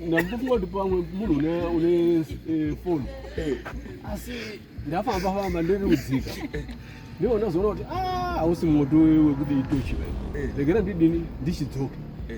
ndakungoti pamwe munhu une une eh, phone eh. asi ndafamba famba ndiri kudzika ndiwo ndazoona kuti ah, hausi moto wekuti itochi vai eh. regera ndidini ndichidzoka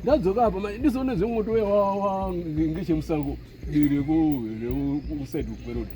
ndadzoka apa mai ndizoona zvemoto wewawa ngechemusango rekuside kwerodi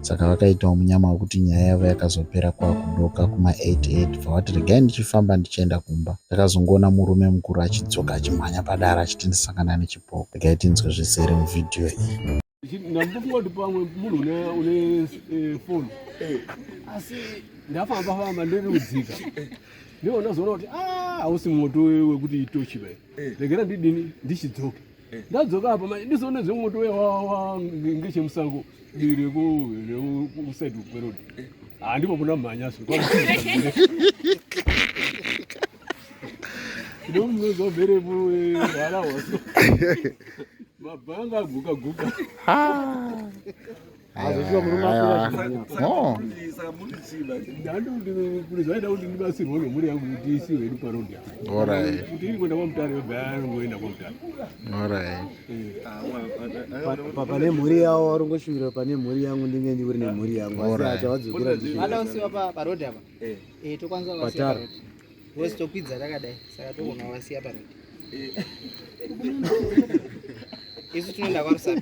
saka vakaitawo munyama wekuti nyaya yavo yakazopera kwakudoka kuma 88 bva vati regai ndichifamba ndichienda kumba ndakazongoona murume mukuru achidzoka achimhanya padara achiti ndisangana nechipoko regai tinzwe zvisere muvhidhiyo iyi ndambokungoti pamwe munhu une eh, foni eh. asi ndafamba famba ndiri kudzika ndiwo ndazoona kuti ah, hausi moto wekuti itochi vai eh. regera ndidini ndichidzoke ndadzoka apa manje ndizoone zvemoto uya wawa ngechemusango diri kusaidi kwerodi handipo kuna mhanya so ndomuzovere vara waso mabhanga aguka guka hazvichiwa murume akura zvinonyatsa oh. zvaida kuti ndibatsirwe nemhuri yangu kuti isiwe hedu parodi kuti iri kuenda kwamutare yobva yangoenda kwamutare pane mhuri yavo vari ngoshuvira pane mhuri yangu ndinge ndiuri nemhuri yangu asi acha vadzokera ndiada kusiwa parodi apa eh. eh, tokwanisa vasiya parodi vosi tokwidza takadai saka togona vasiya parodi isu tinoenda kwarusapi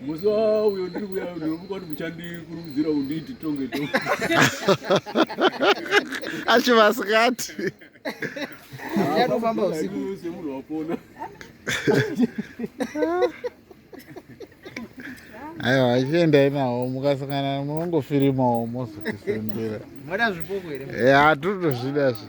Musi wauyo ndiri kuya ndinomuka kuti muchandikurudzira unditi tonge tonge. Achi vasikati. Yanofamba usiku. Use munhu wapona. Aiwa achiendai nawo mukasangana munongofirimawo mozokisembera. Moda zvipoko here? Eh, hatutozvida zvi.